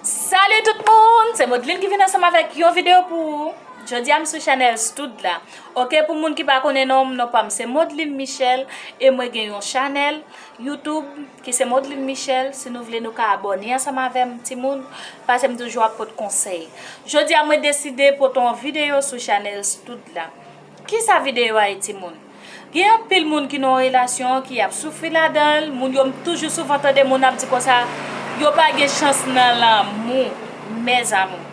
Salut tout moun se Modeline ki vin ansanm avèk yon video pou ou Jodi a m sou chanèl Stood la Ok pou moun ki pa konnen non m non pa m se Modeline Michel e mwen gen yon chanèl YouTube ki se Modeline Michel si nou vle nou ka abòne ansanm avè m ti moun pase m toujou ap pot konsèy Jodi a mwen deside pot on video sou chanèl Stood la. Kisa video a ye timoun? Gen anpil moun ki nan yon relasyon ki ap soufri ladanl, moun yo m toujou souvan tande moun ap di konsa yo pa gen chans nan lanmou mes amours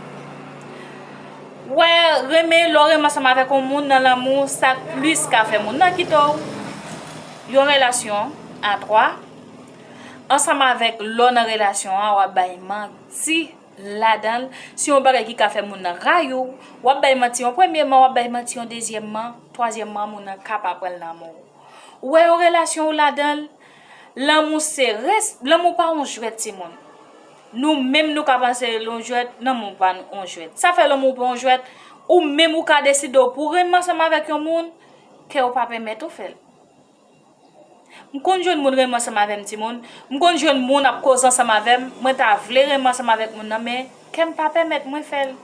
wè renmen lè w renmen ansanm avèk yon moun nan lanmou sa k plis ka fè moun nan kite w yon relasyon a 3 ansanm avèk lè w nan relasyon an wap bay manti. ladan l, si yon bagay ki ka fè moun nan rayi w, w ap bay manti yon premyeman, w ap bay manti yon dezyèmman, twazyèmman moun nan ka pa pran l nan anmou w. Ou wè yon relasyon ou ladan l, lanmou se res, lanmou pa yon jwèt timoun. Nou menm nou ka panse l yon jwèt, lanmou pa yon jwèt. Sa fè lanmou pa yon jwèt, ou menm ou ka deside w pou w renmen ansanm avèk yon moun, kè w pa pèmèt ou fè l. M konn jwenn moun renmen ansanm avè m ti moun, m konn jwenn moun ap koze ansanm avè m, mwen ta vle renmen ansanm avèk moun nan men kè m pa pèmèt mwen fè l.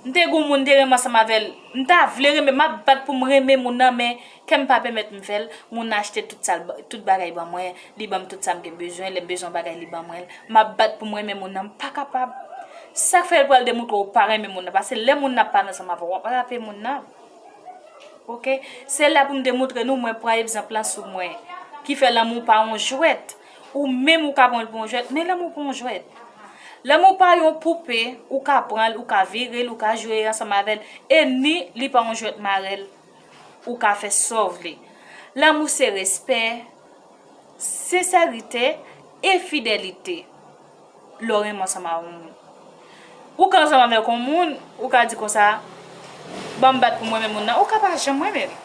M te gen yon moun m te renmen ansanm avè l, m ta vle renmen, m ap bat pou m renmen moun nan men kè m pa pèmèt m fè l, moun nan achte tout sa l, tout bagay ban mwen, li ban m tout sa m gen bezwen, lè m bezwen yon bagay li ban mwen l, m ap bat pou m renmen moun nan, m pa kapab. Sa k fè l pral demoutre ou pa renmen moun nan, pase lè moun nan ap pale ansanm avè w, w ap rape moun nan. Ok se la pou m te moutre nou mwen pran egzanp lan sou mwen ki fè lanmou pa yon jwèt ou menm ou ka pran l pou yon jwèt men lanmou pa yon jwèt lanmou pa yon poupe ou ka pran l ou ka vire l ou ka jwe ansanm avè l e ni li pa yon jwèt marèl ou ka fè sa w vle lanmou se respè sensèritè e fidèlite. lè w renmen ansanm avèk yon moun. Ou ka ansanm avèk yon moun, ou ka di konsa, ban m bat pou m renmen moun nan, ou ka pa janm renmen li.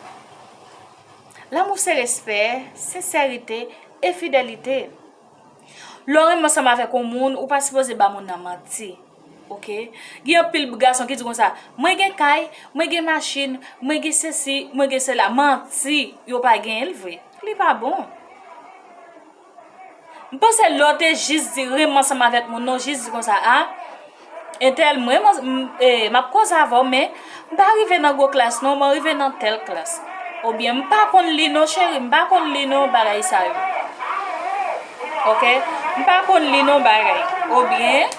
Lanmou se respè, sensèrite, e fidèlite. Lè w renmen ansanm avèk yon moun, ou pa sipoze ba moun nan manti. Ok? Gen anpil gason ki di konsa, mwen gen kay, mwen gen machin, mwen gen sesi, mwen gen sela. Manti, yo pa genyen l vre. Li pa bon. M panse lè w te jis di renmen ansanm avèk moun nan, w jis di konsa a, entèl m renmen ansanm, e m ap koze avè w men, m pa rive nan gwo klas non, mwen rive nan tèl klas. Oubyen m pa konn li non cheri, m pa konn li non bagay sa yo. Ok, m pa konn li non bagay. Oubyen,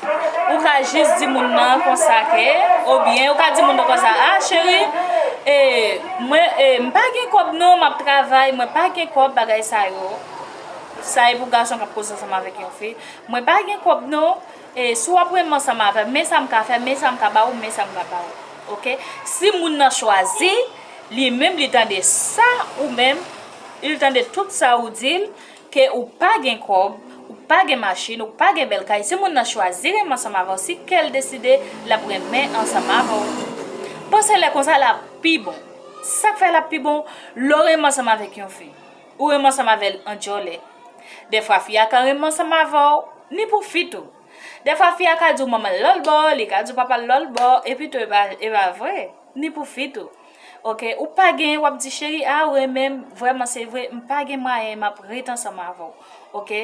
ou ka jis di moun nan konsa ke, oubyen ou ka di moun nan konsa, a cheri, e mwen, e m pa gen kòb non, m ap travay, mwen pa gen kòb bagay sa yo. Sa e pou gason kap koze ansanm avèk yon fi mwen pa gen kòb non e si wap renmenm ansanm avèm men sam ka fè men sam ka ba ou men sam ka ba ou ok si moun nan chwazi li menm li tande sa ou menm il tande tout sa ou dil ke ou pa gen kòb ou pa gen machin ou pa gen bèl kay si moun nan chwazi renmenm ansanm avèw si kèl deside lap renmenm ansanm avèw panse lè konsa lap pi bon sak fè lap pi bon lè ou renmenm ansanm avèk yon fi. Ou renmen ansanm avè l an djòlè. Dèfwa fi a ka renmen ansanm avè w ni pou fi tou. Dèfwa fi a ka di w manman l lòt bò, li ka di w papa l lòt bò, epi tou e pa vre, ni pou fi tou. Ok, ou pa gen, w ap di cheri a ou renmen m vrèman se vre, m pa gen mwayen m ap ret ansanm avè w. Ok,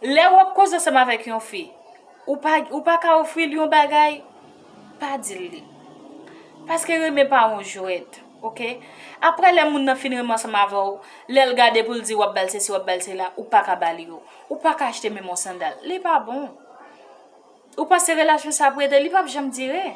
lè w ap koze ansanm avèk yon fi, ou pa ou pa ka ofri l yon bagay, pa di l li. Paske renmen pa yon jwèt. Ok aprè lè moun nan fin renmen ansanm avèw lèl gade poul di wap bal sesi wap bal sela ou paka bali yo ou paka achte menm yon sandal li pa bon ou panse relasyon sa ap rete li pap janm dire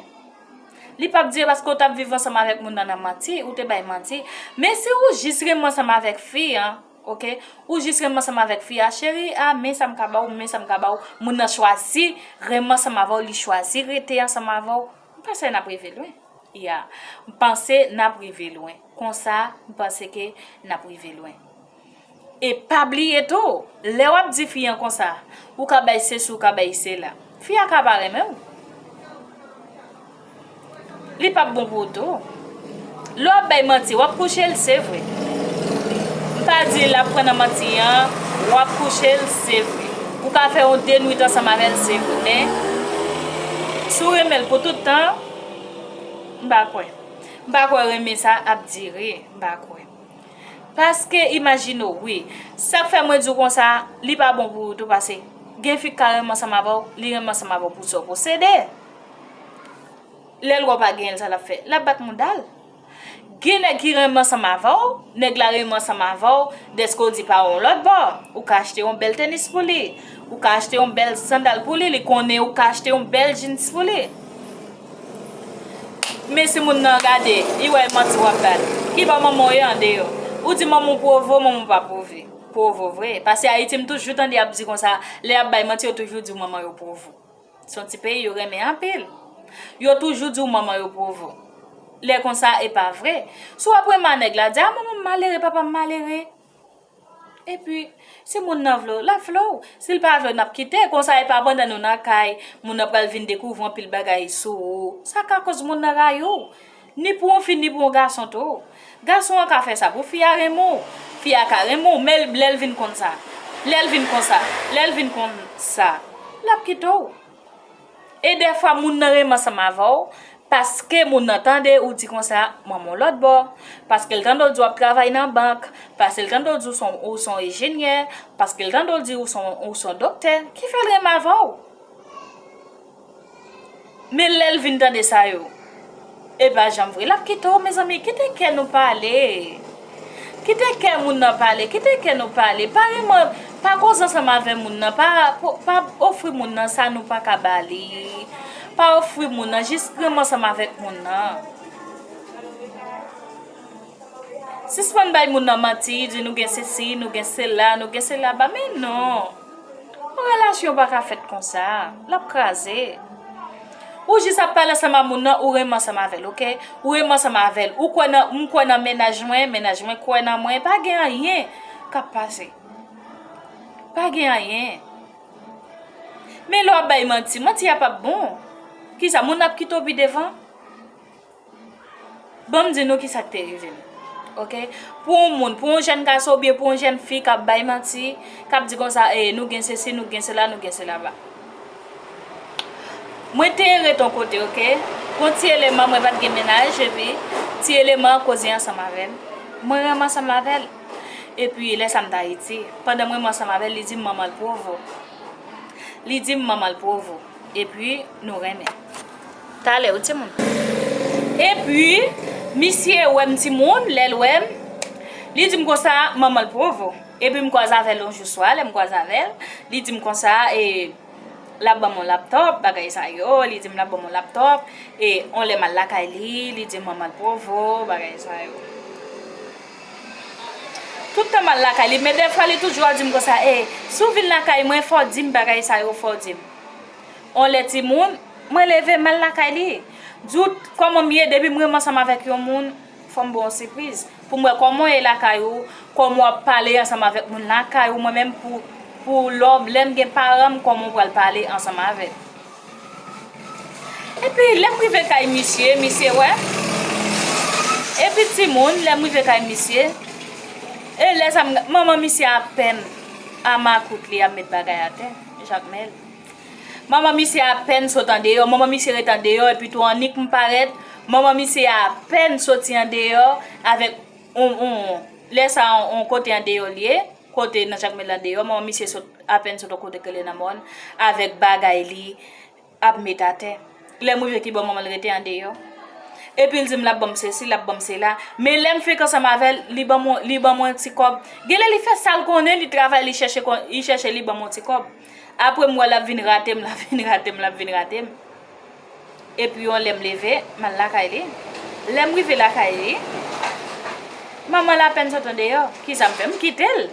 li pap dire paske ou tap viv ansanm avèk moun nan nan manti ou te bay manti men si ou jis renmen ansanm avèk fi an ok ou jis renmen ansanm avèk fi a cheri a men sam ka baw men sam ka baw moun nan chwazi renmen ansanm avèw li chwazi rete ansanm avèw. M panse n ap rive lwen. Ya. M panse n ap rive lwen. Konsa, m panse ke n ap rive lwen. E pa bliye tou, lè w ap di fi an konsa, ou ka bay sesi ou ka bay sela. Fi a ka pa renmen w. Li p ap bon pou ou tou. Lè wap bay manti wap kouchel se vre m pa di lap pran nan manti an wap kouchel se vre ou ka fè yon 2 nwit ansanm avèl se vre men si w renmenl pou tout tan m pa kwè m pa kwè renmen sa ap dire m pa kwè paske imajine w wi sak fè mwen di w konsa li pa bon pou ou tou pase gen fi k ka renmen ansanm avèw li renmen ansanm avèw pou sa w posede. Lè l wè w pa genyen l sa l ap fè? L ap bat mouda l. Gen nèg ki renmen ansanm avè w, nèg la renmen ansanm avè w dèske w di pa yon lòt bò, ou ka achte yon bèl tènis pou li, ou ka achte yon bèl sandal pou li, li konnen ou ka achte yon bèl djins pou li. Men si moun nan gade, li wè e manti w ap bat. Ki bò manman w ye andeyo? Ou di manman w pwovo, manman w pa pwove. Pwovo vre. Pase Ayiti m toujou tande y ap di konsa, lè y ap bay manti yo toujou di w manman yo pwovo. Se yon ti peyi yo renmen anpil. Yo toujou di w manman yo provo. Lè konsa e pa vre. Si w ap renman nèg la, di a manman m malere, papa m malere. E pi, si moun nan vle w, l ap vle w. Si l pa vle w, n ap kite. Konsa e pa pandan nou nan kay, moun nan pral vin dekouvri anpil bagay sou ou. Sa ka koz moun nan rayi w. Ni pou yon fi ni pou yon gason tou. Gason an ka fè sa pou fi a renmen w. Fi a ka renmen w men lè l vin konn sa, lè l vin konsa, lè l vin konn sa, l ap kite w. E dèfwa moun nan renmen ansanm avè w paske moun nan tande ou di konsa manman w lòt bò, paske l tande w di w ap travay nan bank, paske l tande w di ou s on ejenyè, paske l tande w di ou s on doktè ki fè l renmen avè w. Men lèl vin tande sa yo e pa janm vre lap kite w mezanmi kite kè nou pale kite kè moun nan pale kite kè nou pale pa renmen pa koze ansanm avè moun nan pa pa ofri moun nan sa nou paka ba li pa ofri moun nan jis renmen ansanm avèk moun nan sispann bay moun nan manti di nou gen sesi nou gen sela nou gen sela ba men non. Yon relasyon pa ka fèt konsa, lap kraze. Ou jis ap pale ansanm a moun nan, ou renmen ansanm avè l ok, ou renmen ansanm avè l, ou kwè nan, m kwè nan mennaj mwen, mennaj mwen kwè nan mwen, pa gen anyen kap pase. Pa gen anyen. Men lè w ap bay manti, manti a pap bon. Kisa moun nan ap kite w pi devan? Ban m di nou ki sa k te rive m, ok. Pou yon moun, pou yon jèn gason oubyen pou yon jèn fi k ap bay manti, k ap di konsa, e, nou gen sesi, nou gen sela, nou gen selaba. Mwen te ret yon kote, ok. Gon ti eleman, mwen pa t gen mennaj, epi, ti eleman an koze ansanm avè m. Mwen renmen ansanm avè l. Epi, lè sa m t Ayiti. Pandan m renmen ansanm avè l, li di m manman l pwovo. Li di m manman l pwovo. Epi nou renmen. Talè wi timoun. Epi misye wè m timoun, lè l wè m, li di m konsa, manman l provo. Epi m kwaze avè l yon jou swa, lè m kwaze avè l, li di m konsa e l ap ban m yon laptòp, bagay sa yo, li di m l ap ban m yon laptòp, e yon lè m al lakay li, li di m manman l provo, bagay sa yo. Tout tan mal lakay li men dèfwa li toujou ap dim konsa ee si w vin lakay mwen fò w dim bagay sa yo fò w dim on lè ti moun mwen leve mal lakay li di w kòman m ye depi m renmen ansanm avèk yon moun fò m ba w on sipriz pou m wè kòman w ye lakay ou kòman w ap pale ansanm avèk moun lakay ou mwen menm pou pou lò lè m gen paran m kòman w pral pale ansanm avè l. Epi lèm rive kay misye, misye wè. Epi timoun, lèm rive kay misye. E lè sa m, manman misye apèn a makout li ap met bagay atè, Jakmèl. Manman misye apèn sot andeyò, manman misye ret andeyò epi tou annik m parèt, manman misye apèn soti andeyò avèk yon, yon, lè sa yon kote andeyò li ye. Kote nan jakmèl la deyò manman misye sot apèn sot yon kote ki rele nan mòn avèk bagay li ap met atè lèm rive ki bò manmanl rete andeyò epil dim lap banm sesi lap banm sela men lèm fenk ansanm avèl li banm yon li banm yon ti kòb genlè li fè sal konnen li travay li chèche kon li chèche li banm yon ti kòb aprèm wè lap vin ratem lap vin ratem lap vin ratem. Epi yon lè m leve, m al lakay li. Lè m rive lakay li, manman l apèn sot andeyò. Ki sa m fè? M kite l!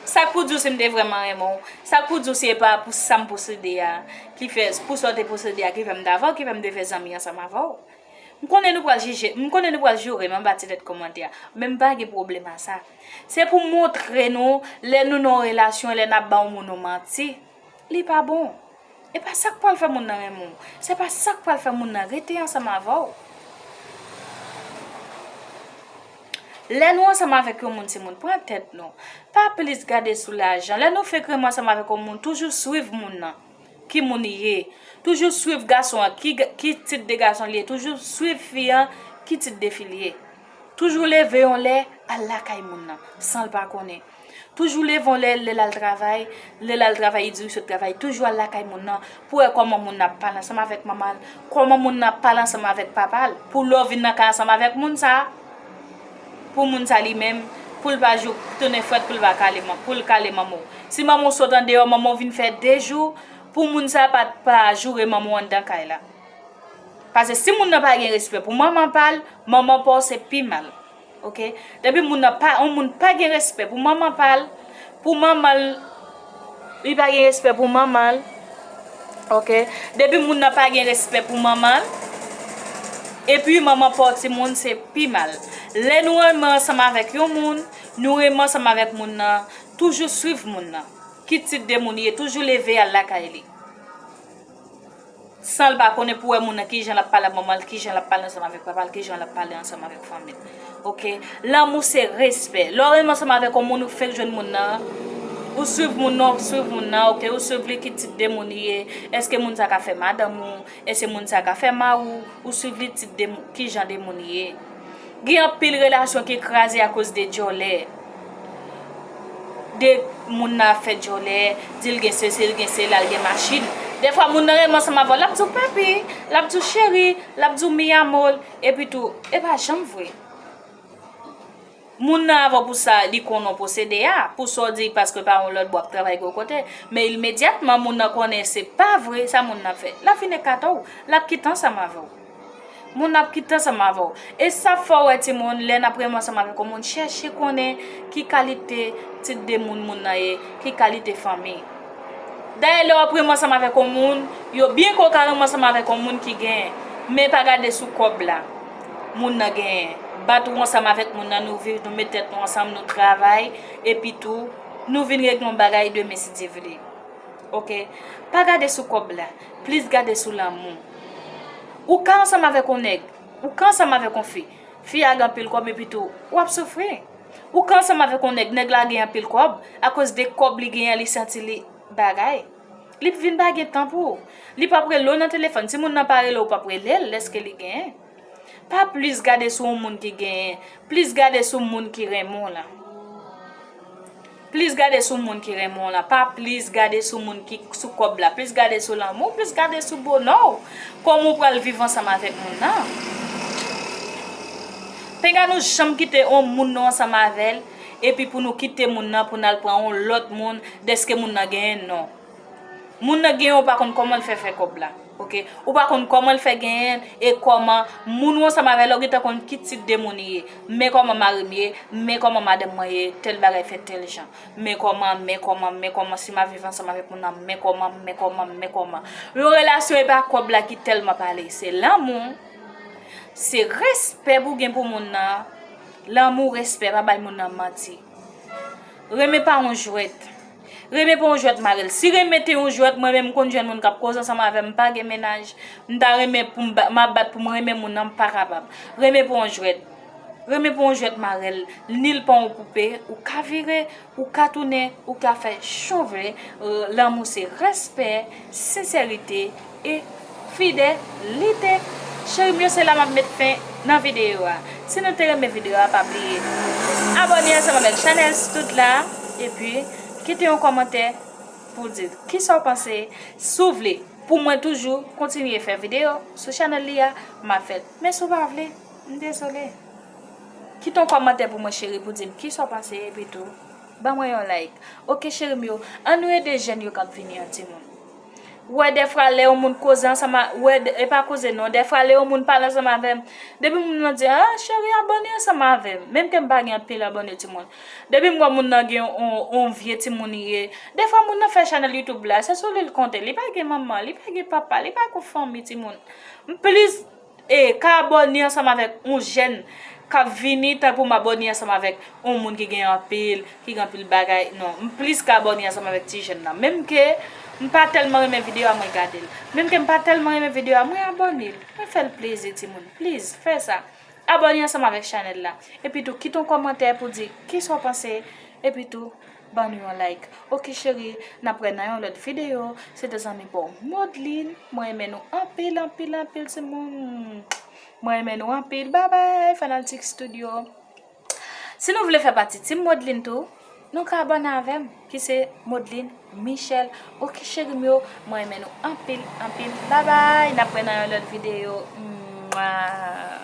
Sa k pou di w si m te vrèman renmen w? Sa k pou di w si e pa pou sa m posede a ki fè, pou sa w te posede a ki fè m t avè w, ki fè m te fè zanmi ansanm avè w? M konnen nou pral jije, m konnen nou pral joure m anba ti tèt kòmantè a, men m pa gen pwoblèm a sa. Se pou m montre nou lè nou nan yon relasyon, lè n ap ba yon moun yon manti. Li pa bon. E pa sa k pral fè moun nan renmen w. Se pa sa k pral fè moun nan rete ansanm avè w. Lè nou ansanm avèk yon moun timoun, pran tèt nou. Pa plis gade sou lajan. Lè nou fenk renmen ansanm avèk yon moun, toujou swiv moun nan. Ki moun li ye. Toujou swiv gason an. Ki tip de gason li ye. Toujou swiv fi an. Ki tip de fi li ye. Toujou leve yon lè, al lakay moun nan. San l pa konnen. Toujou le vòlè lè lal travay, lè lal travay li di li sot travay, toujou al lakay moun nan pou wè kòman moun nan ap pale ansanm avèk manman l, kòman moun nan ap pale ansanm avèk papa l, pou lè w vin nan kay ansanm avèk moun sa, pou moun sa li menm, pou l pa jou tounen frèt pou l pa kale, pou l kale manman w. Si manman w sot andeyò, manman w vin fè de jou, pou moun sa pa pa joure manman w anndan kay la. Pase si moun nan pa gen respè pou manman pa l, manman pa w se pi mal. Ok depi moun nan pa yon moun pa gen respè pou manman pal pou manman li pa gen respè pou manman ok depi moun nan pa gen respè pou manman epi manman pa yon ti moun se pi mal lè nou renmen ansanm avèk yon moun nou renmen ansanm avèk moun nan toujou swiv moun nan ki tip de moun li ye toujou leve al lakay li. San l pa konnen pou wè moun nan kijan l ap pale ak manman l, kijan l ap pale ansanm avèk papa l, kijan l ap pale ansanm avèk fanmi l. Ok, lanmou se respè. Lè w renmen ansanm avèk yon moun, ou fenk jwenn moun nan, ou swiv moun nan, ou swiv moun nan, ok, ou swiv li ki tip de moun li ye, èske moun sa ka fè madanm ou, èske moun sa ka fè mari w, ou swiv li tip de moun, kijan de moun li ye. Gen anpil relasyon ki kraze akoz de dyòlè. De moun nan ap fè dyòlè, di l gen sesi, l gen sela, l gen machin. Defwa moun nan renmen ansanm avè w, l ap di w papi, l ap di w cheri, l ap di w mi amor, epitou, e pa janm vre. Moun nan avw pou sa li konnen w posede a, pou sa w di paske pa yon lòt bò ap travay gwo kote, men ilmedyatman moun nan konnen se pa vre sa moun nan ap fè, l ap vin ekate w, l ap kite ansanm avè w. Moun nan ap kite ansanm avè w. E sa ap fè w wè timoun, lè n ap renmen ansanm avèk yon moun, chèche konnen ki kalite tit de moun moun nan ye, ki kalite fanmi. Dayè lè w ap renmen ansanm avèk yon moun, yo byen kwè w ka renmen ansanm avèk yon moun ki gen, men pa gade sou kòb la. moun nan genyen bat ou ansanm avèk moun nan nou viv nou met tèt nou ansanm nou travay epi tou nou vin regle yon bagay demen si Dye vle ok pa gade sou kòb la plis gade sou lanmou ou ka ansanm avèk yon nèg ou ka ansanm avèk yon fi fi a gen anpil kòb epi tou wap soufri ou ka ansanm avèk yon nèg nèg la gen anpil kòb akoz de kòb li genyen li santi li bagay. Li p vin pa gen tan pou ou. Li p ap rele w nan telefòn. Si moun nan pa rele w, ou p ap rele l dèske li genyen. Pa plis gade sou yon moun ki genyen. Plis gade sou moun ki renmen w lan. Plis gade sou moun ki renmen w lan. Pa plis gade sou moun ki sou kòb la. Plis gade sou lanmou w. Plis gade sou bonè w. Kòman ou pral viv ansanm avèk moun nan. Pinga nou janm kite yon moun nou ansanm avè l. epi pou nou kite moun nan pou nal pran yon lòt moun dèske moun nan genyen non moun nan genyen ou pa konn kòmanl fè fè kòb la ok ou pa konn kòmanl fè genyenl e kòman moun ou ansanm avèl la ou gentan konn ki tip de moun li ye men kòman marim ye men kòman madanm mwen ye tèl bagay fèt tèl jan men kòman men kòman men kòman si map viv ansanm avèk moun nan men kòman men kòman men kòman yon relasyon epa kòb la ki tèlman pale se lanmou se respè pou gen pou moun nan. Lanmou, respè, pa bay moun nan manti. Renmen pa yon jwèt. Renmen pa yon jwèt mare l. Si renmen te yon jwèt, mwen menm m konn jèn moun k ap koze ansanm avè m, m pa gen mennaj, m ta renmen pou m ba, m ap bat pou m renmen moun nan, m pa kapab. Renmen pa yon jwèt. Renmen pa yon jwèt mare l, ni l pa yon poupe ou ka vire. Ou ka tounen, ou ka fè jan w vle, lanmou se respè, senserite e fide lite. Cheri m yo se la map met fen nan video a. Si nou te renmen video a pa bliye abone ansanm avek chanel stout la epi kite yon komantè pou di kisa w panse. Si w vle pou mwen toujou kontinye fè video sou chanel li a map fè l men si w pa vle m dezole. Kite yon kòmantè pou mwen cheri pou dim kisa w panse epi tou ban mwen yon like ok cheri m yo an nou ede jèn yo kap vini an timoun wè dèfwa lè yon moun koze ansanm wè epa koze non dèfwa lè yon moun pale ansanm avèm depi moun lan di a cheri abòne ansanm avèm menm kem pa gen anpil abòne timoun depi m wè moun lan gen yon vye timoun li ye dèfwa moun lan fè chanèl youtube la se sou li l konte li pa gen manman li pa gen papa li pa gen fanmi timoun m plis E ka abòne ansanm avèk yon jèn kap vini tanpou m abòne ansanm avèk yon moun ki gen anpil, ki gen anpil bagay, non. M plis ka abòne ansanm avèk ti jèn nan. Menm ke m pa tèlman renmen videyo a mwen gade l. Menm ke m pa tèlman renmen videyo a mwen abòne l. Mwen fè l plezi timoun. Pliz fè sa. Abòne ansanm avèk chanèl la. Epitou kite yon kòmantè pou di kisa w panse. Epitou. Ban nou yon like ok cherie. Nap wè nan yon lòt video. Se te zanmi pa w Modeline. Mwen renmen nou anpil anpil anpil ti moun. Mwen renmen nou anpil bye bye fanaltik studio. Si nou vle fè pati team Modeline tou. Nou ka abone avèm ki se Modeline Michel ok cheri m yo. Mwen renmen nou anpil anpil bye bye. Nap wè nan yon lòt video. Mwaa.